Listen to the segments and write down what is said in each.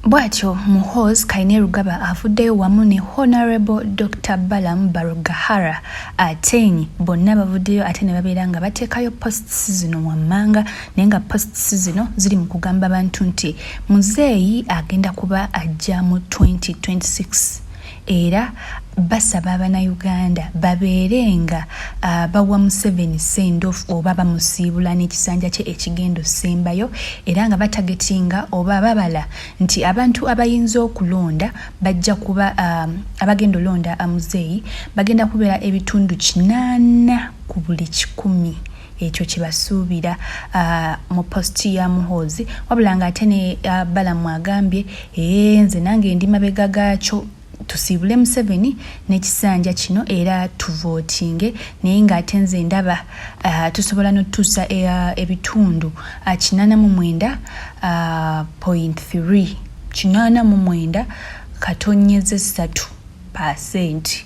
Bwatyo Muhoozi Kainerugaba avuddeyo wamu ne Honourable Dokita Balaam Barugahara Ateny bonna bavuddeyo ate ne babeera nga bateekayo posts zino wammanga naye nga posts zino ziri mu kugamba bantu nti muzeeyi agenda kuba ajja mu 2026. era basaba abanayuganda babeere nga uh, bawa museveni sendof oba bamusiibula n'ekisanja kye ekigendo sembayo era nga batagetinga oba babala nti abantu abayinza okulonda bajja kuba um, abagenda olonda amuzeeyi bagenda kubeera ebitundu kinaana ku buli kikumi ekyo kyebasuubira uh, mu post ya muhoozi wabula nga ate ne uh, balamu agambye ee nze nange ndi mabega gaakyo tusiibule museveni n'ekisanja kino era tuvootinge naye ng'ate nze ndaba uh, tusobola notutuusa uh, ebitundu uh, kinana mu mwenda uh, point 3 kinana mu mwenda katonyeze satu pasenti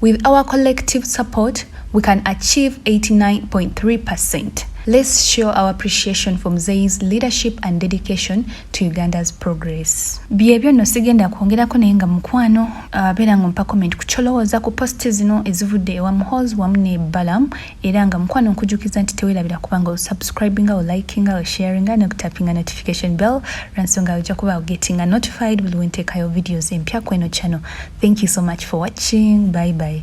With our collective support, we can achieve 89.3%. Let's show our appreciation for Mzee's leadership and dedication to Uganda's progress. Byebyo no sigenda kwongerako naye nga mukwano uh, beera ng'ompa comment ku kyolowooza ku posti zino ezivudde ewa Muhoozi wamu ne Balaam era nga mukwano nkujukiza nti tewelabira kuba nga osubscribinga olikinga osharinga nokutapinga notification bell lwansonga ojja kuba ogetinga notified buli wenteekayo videos empya kweno channel thank you so much for watching bye bye